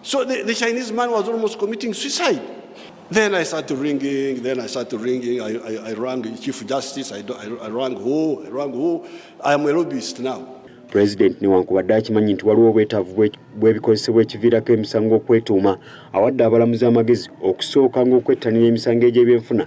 So the, the Chinese man was almost committing suicide. Then I started ringing, then I started ringing. I, I, I rang Chief Justice, I, I, I rang who, I rang who. I am a lobbyist now. President newankubadde akimanyi nti waliwo obwetaavu bw'ebikozesebwa ekiviirako emisango okwetuuma awadde abalamuzi amagezi okusooka ng'okwettanira emisango egy'ebyenfuna.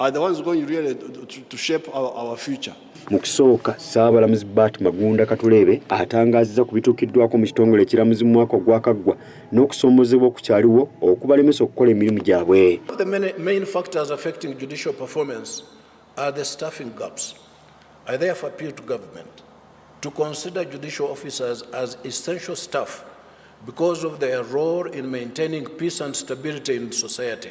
are the ones going really to, to shape our, our future. Mu kusooka Ssaabalamuzi Bart Magunda Katuleebe atangaazizza ku bituukiddwako mu kitongole ekiramuzi mu mwaka ogwakaggwa n'okusoomozebwa okukyaliwo okubalemesa okukola emirimu gyabwe. The main, main factors affecting judicial performance are the staffing gaps. I therefore appeal to government to consider judicial officers as essential staff because of their role in maintaining peace and stability in society.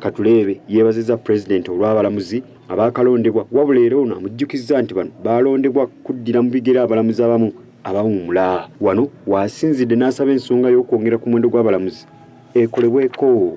Katuleebe yeebazizza Pulezidenti olw'abalamuzi abaakalondebwa wabula era ono amujjukizza nti bano baalondebwa kuddira mu bigere abalamuzi abamu abawummula. Wano waasinzidde n'asaba ensonga y'okwongera ku muwendo gw'abalamuzi ekolebweko.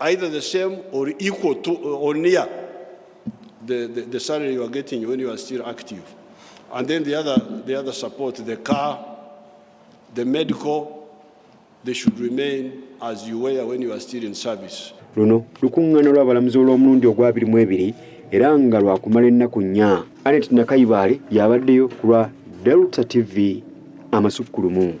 either the same or equal to or near the, the, the salary you are getting when you are still active. And then the other, the other support, the car, the medical, they should remain as you were when you are still in service. luno lukuŋŋaana lw'abalamuzi olw'omulundi ogwabiri mu ebiri era nga lwakumala ennaku nnya anet nakayibaale y'abaddeyo ku lwa delta tv amasukkulumu